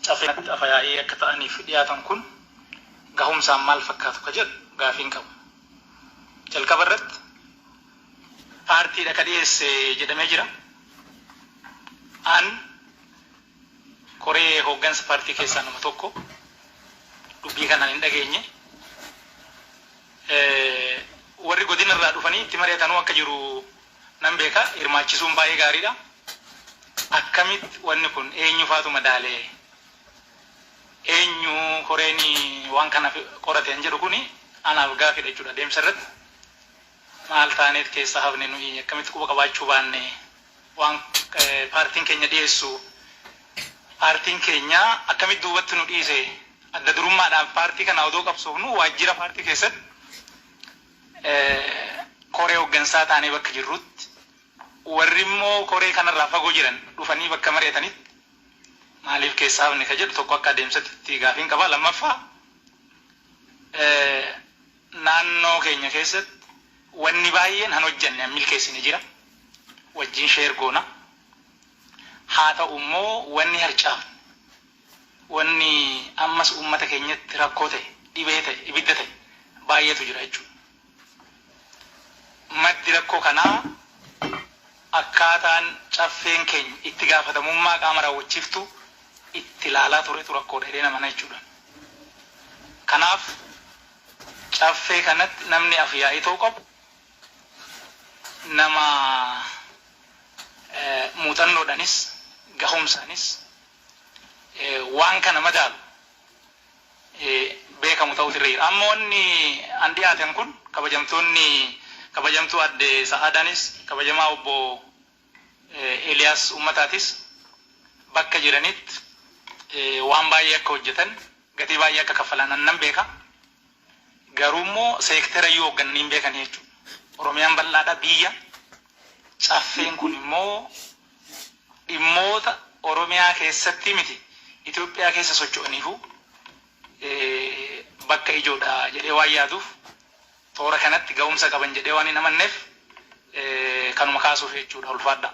Caffee kanatti afa-yaa'ii akka ta'aniif dhiyaatan kun gahumsaan maal fakkaatu ka jedhu gaafiin qaba. Jalqaba irratti paartiidha ka dhiyeesse jedhamee jira. An koree hooggansa paartii keessaa nama tokko dubbii kanaan hin dhageenye. Warri godina irraa dhufanii itti mari'atanuu akka jiru nan beeka hirmaachisuun baay'ee gaariidha. Akkamitti wanni kun eenyufaatu madaale? Eenyu koreen waan kana qorate kan jedhu kuni anaaf gaaffiidha jechuudha. Deemsa irratti maal taaneet keessa hafne nuyi? Akkamitti quba qabaachuu baanne? Waan paartiin keenya dhiyeessu paartiin keenya akkamitti duubatti nu dhiise? Adda durummaadhaan paartii kana odoo qabsoofnu waajjira paartii keessatti koree hoggansaa taanee bakka jirruutti, warri immoo koree kana irraa fagoo jiran dhufanii bakka mari'atanitti maaliif keessaa hafne ka jedhu tokko akka adeemsatitti gaafiin qaba. Lammaffaa naannoo keenya keessatti wanni baay'een han hojjanne, han milkeessine jira. Wajjin share goona. Haa ta'u immoo wanni harcaafne. Wanni ammas ummata keenyatti rakkoo ta'e, dhibee ta'e, ibidda ta'e baay'eetu jira jechuudha. Maddi rakkoo kanaa akkaataan Caffeen keenya itti gaafatamummaa qaama raawwachiiftuu itti ilaalaa turetu rakkoodha jedheen amana jechuudha. Kanaaf Caffee kanatti namni Af-yaa'ii ta'uu qabu nama muuxannoodhaanis, gahumsaanis, waan kana madaalu beekamu ta'uutu irra jira. Amma wanni an dhiyaatan kun kabajamtoonni kabajamtuu adde Sa'aadaanis kabajamaa obbo Eliyaas Ummataatis bakka jiranitti waan baay'ee akka hojjatan gatii baay'ee akka kaffalan an nan beeka. Garuummoo seektera iyyuu hooggananii hin beekani jechuudha. Oromiyaan bal'aadha, biyya. Caffeen kunimmoo dhimmoota Oromiyaa keessatti miti Itoophiyaa keessa socho'aniifuu bakka ijoodha jedhee waan yaaduuf toora kanatti gahumsa qaban jedhee waan hin amanneef kanuma kaasuuf jechuudha. Ulfaadhaa.